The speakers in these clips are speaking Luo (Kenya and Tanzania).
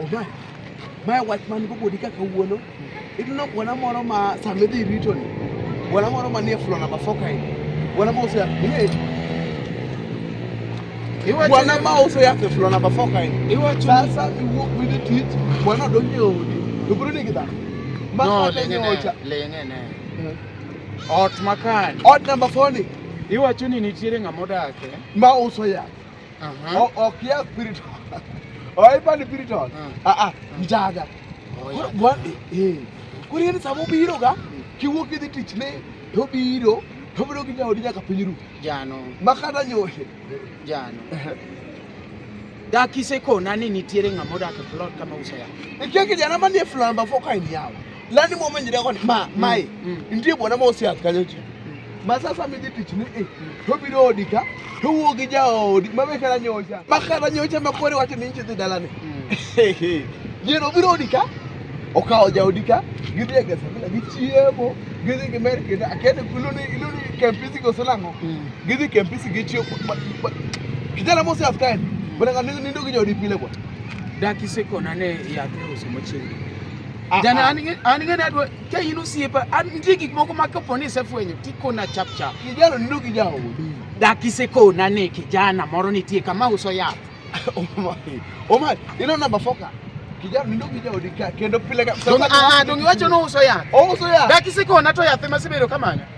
Oba, mae wach man go bodi kaka wuono. Ineno bwana moro ma sama idhi rito ni, bwana moro manie flo namba four kae, bwana ma uso yath bie. Bwana ma uso yath e flo namba four kae. Sasa iwuok midhi tich, bwana odonjo e odi, to biro nigi dhano. Ma No, kata ling'e nyocha. ne, ling'e ne. Ot makani. Ot namba four ni, Iwacho ni nitiere ng'ama odake. ma uso yath. Aha. O- ok ya spiritual oipa ni spiritual Ah. ah ah mjaga Oh, Koro yeah. gwa- eh koro yani sama obiro ga kiwuok idhi tich ne to obiro to obiro gi jaodi nyaka piny ru Jano, ma kata nyohe jano. Dakise kona ni nitiere ng'ama odak e plot kama uso yath. ikia kijana manie flamba fo ka en yawa lani mo menjira kon ma mm, mai mm. ndie bona mo sia kanyo chi mm. ma sasa mi ditich ni eh to biro odika to wuogi ja odi ma be kala nyocha ma kala nyocha ma kore wacho ni nchi dalane yero biro odika okawo ja odika gidhi e gesa bila gichiemo gidhi gimer kendo akende iluni iluni kempisi goselango gidhi kempisi gichiemo kijana mo sia kanyo bona nindo gi ja odi pile kwa dakise kona ne yath e uso machiegni Ah, Jana ah. an ng'e ni adwa ka in osiepa an nitie gik moko ma kapo ni isefwenyo tikona chap chap. Kijana nindo gi jaodi. Dak isekona ni kijana moro nitie kama uso yath. Omari, Omari, ino namba foka. Kijana nindo gi jaodi ka kendo pile ka. Donge ah, ah, donge wacho ni uso yath. Ouso yath. Dak isekona to yath ema sibedo kamanya.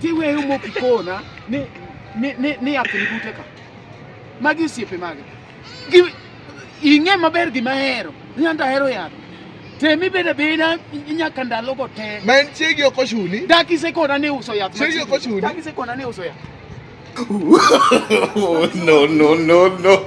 Ti weyo moki kona ni ni ni ni yath ni bute ka. Magi osiepe mage. Gi ing'e maber gima ahero. Nyanda ahero yath. Temi bede beda nyaka ndalo go te. Ma en chiegi ok ochuni. Daki se kona ni uso yath. Chiegi ok ochuni. Daki se kona ni uso yath. no, no, no, no.